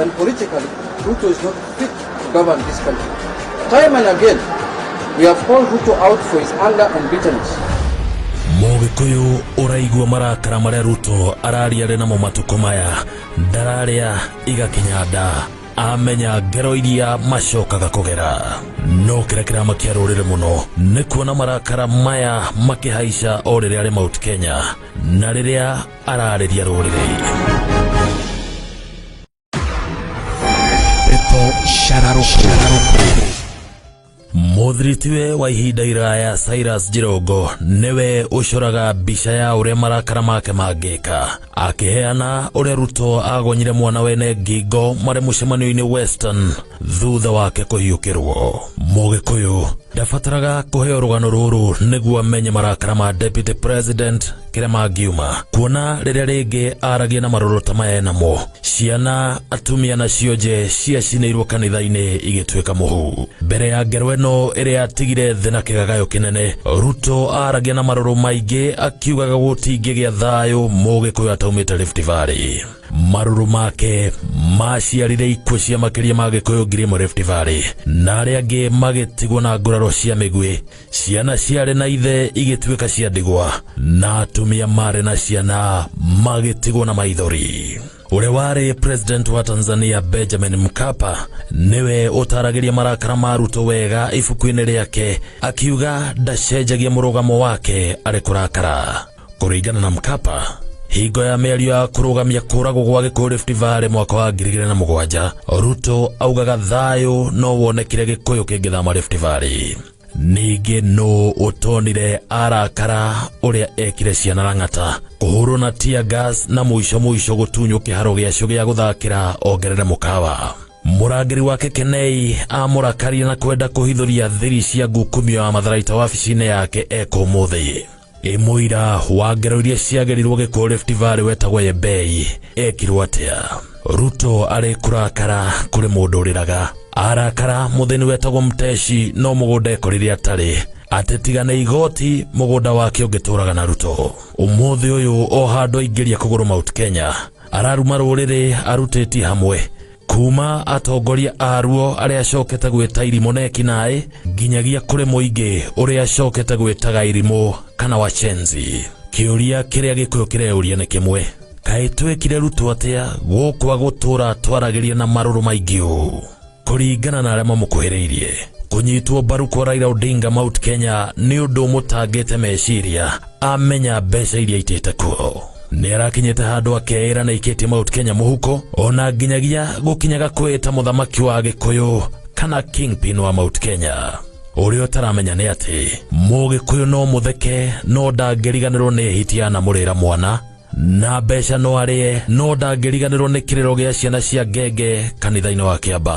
And politically, Ruto is not fit to govern this country. Time and again, we have called Ruto out for his anger and bitterness. mũgĩkũyũ ũraigua marakara marĩa ruto araria arĩ namo matukũ maya ndararĩa igakinya nda amenya ngero iria macokaga kũgera no kĩrĩa kĩramakia rũrĩrĩ mũno nĩ kuona marakara maya makĩhaica o rĩrĩa arĩ mount kenya na rĩrĩa ararĩria rũrĩrĩ pepo cararũkũ mũthiritiwe wa ihinda iraya Cyrus Jirongo nĩwe ũcoraga mbica ya ũrĩa marakara make mangĩka akĩheana ũrĩa Ruto agonyire mwana wene ngingo marĩ mũcemanio-inĩ Western thutha wake kũhiũkĩrwo mũgĩkũyũ ndabataraga kũheo rũgano rũrũ nĩguo amenye marakara ma Deputy President kĩrĩa mangiuma kuona rĩrĩa rĩngĩ aragia na marũrũ ta maya namo ciana atumia na cionje ciacinĩirwo kanitha-inĩ igĩtuĩka mũhu mbere ya ngero ĩno ĩrĩa yatigire thĩ na kĩgagayo kĩnene ruto aragia na marũrũ maingĩ akiugaga gũtingĩgĩa thayũ mũgĩkũyũ ataumĩte Rift Valley marũrũ make maciarire ikuũ cia makĩria ma gĩkũyũ ngiri ĩmwe Rift Valley na arĩa angĩ magĩtigwo na nguraro cia mĩguĩ ciana ciarĩ na ithe igĩtuĩka cia ndigwa na atumia marĩ na ciana magĩtigwo na maithori ũrĩa warĩ president wa tanzania benjamin mkapa nĩwe ũtaragĩria marakara ma ruto wega ibuku-inĩ rĩake akiuga ndacenjagia mũrũgamo wake arĩ kũrakara kũringana na mkapa hingo ya mĩario ya kũrũgamia kũragwo gwa gĩkũyũ Rift Valley mwaka wa ngiri igĩrĩ na mũgwanja Ruto augaga thayũ no wonekire gĩkũyũ kĩngĩthama Rift Valley ningĩ nũ ũtonire arakara ũrĩa ekire ciana rang'ata kũhũrwo na tear gas na mũico mũico gũtunywo kĩharo gĩacio gĩa gũthakĩra ongerere mũkawa mũrangĩri wa kekenei amũrakaria na kwenda kũhithũria thiri cia ngukumio ya matharaita wabici-inĩ yake eka ũmũthĩ ĩ mũira wa ngero iria ciagerirwo gĩkũũ Rift Valley wetagwo Yebei ekirwo atĩa Ruto arĩ kũrakara kũrĩ mũndũ ũrĩraga arakara mũthĩni wetagwo Mteshi no mũgũnda ekorire atarĩ atĩ tiga nĩ igoti mũgũnda wake ũngĩtũraga na Ruto ũmũthĩ ũyũ o handũ aingĩria kũgũrũ Mount Kenya araruma rũrĩrĩ arutĩtie hamwe kuma atongoria aruo arĩa acokete gwĩta irimũ na ekinaĩ nginyagia kũrĩ mũingĩ ũrĩa acokete gwĩtaga irimũ kana wacenzi kĩũria kĩrĩa gĩkũyũ kĩreyũria nĩ kĩmwe kaĩ twekire rutwo atĩa gũkwa gũtũra twaragĩria na marũrũ maingĩ ũũ kũringana na arĩa mamũkuhĩrĩirie kũnyitwo mbaru kwa Raila Odinga Mount Kenya nĩ ũndũ ũmũtangĩte meciria amenya mbeca iria itĩte kuo nĩ arakinyĩte handũ akeĩra na ikĩtie Mount Kenya mũhuko ona nginyagia gũkinyaga kwĩta mũthamaki wa gĩkũyũ kana kingpin wa Mount Kenya ũrĩa ũtaramenya nĩ atĩ mũgĩkũyũ no mũtheke no ndangĩriganĩrwo nĩ hitia na mũrĩra mwana na mbeca no arĩe no ndangĩriganĩrwo nĩ kĩrĩro gĩa ciana cia ngenge kanitha-inĩ wa kĩamba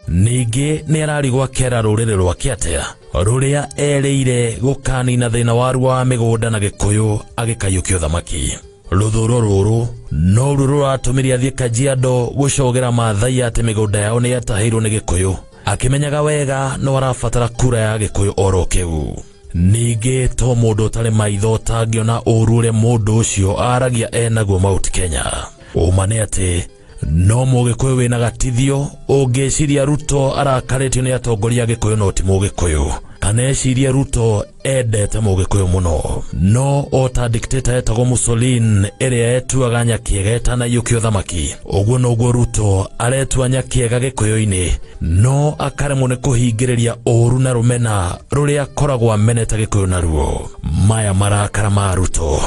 ningĩ nĩ arari gwakera rũrĩrĩ rwake atĩa rũrĩa erĩire gũkanina thĩna waruo wa mĩgũnda na gĩkũyũ agĩkayũkia ũthamaki rũthũro rũrũ noru rũratũmire athiĩ kajiado gũcogera maathai atĩ mĩgũnda yao nĩ yatahĩirwo nĩ gĩkũyũ akĩmenyaga wega no arabatara kura ya gĩkũyũ oro kĩu ningĩ to mũndũ ũtarĩ maitho ũtangĩona ũru ũrĩa mũndũ ũcio aragia enaguo mauti kenya ũma nĩ atĩ no mũgĩkũyũ wĩna gatithio ũngĩciria ruto arakarĩtio nĩ atongoria gĩkũyũ no ti mũgĩkũyũ kana ecirie ruto endete mũgĩkũyũ mũno no o ta dikteta etagwo musolin ĩrĩa etuaga nyakiega etanaiyũkia ũthamaki ũguo noguo ruto aretua nyakiega gĩkũyũ-inĩ no akaremwo nĩ kũhingĩrĩria ũũru na rũmena rũrĩa akoragwo ameneta gĩkũyũ naruo maya marakara ma ruto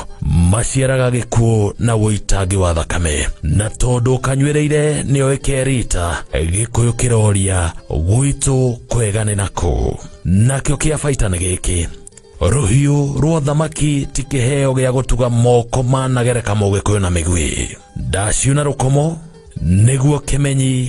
maciaraga gĩkuũ na ũitangi wa thakame na tondũ kanywereire nĩo ĩkerita gĩkũyũ kĩroria gwitũ kwega nĩ nakũ nakĩo kĩa baita nĩ gĩkĩ rũhiũ rwa thamaki ti kĩheo gĩa gũtuga moko managereka mũgĩkũyũ na mĩgwĩ ndaciuna rũkomo nĩguo kĩmenyi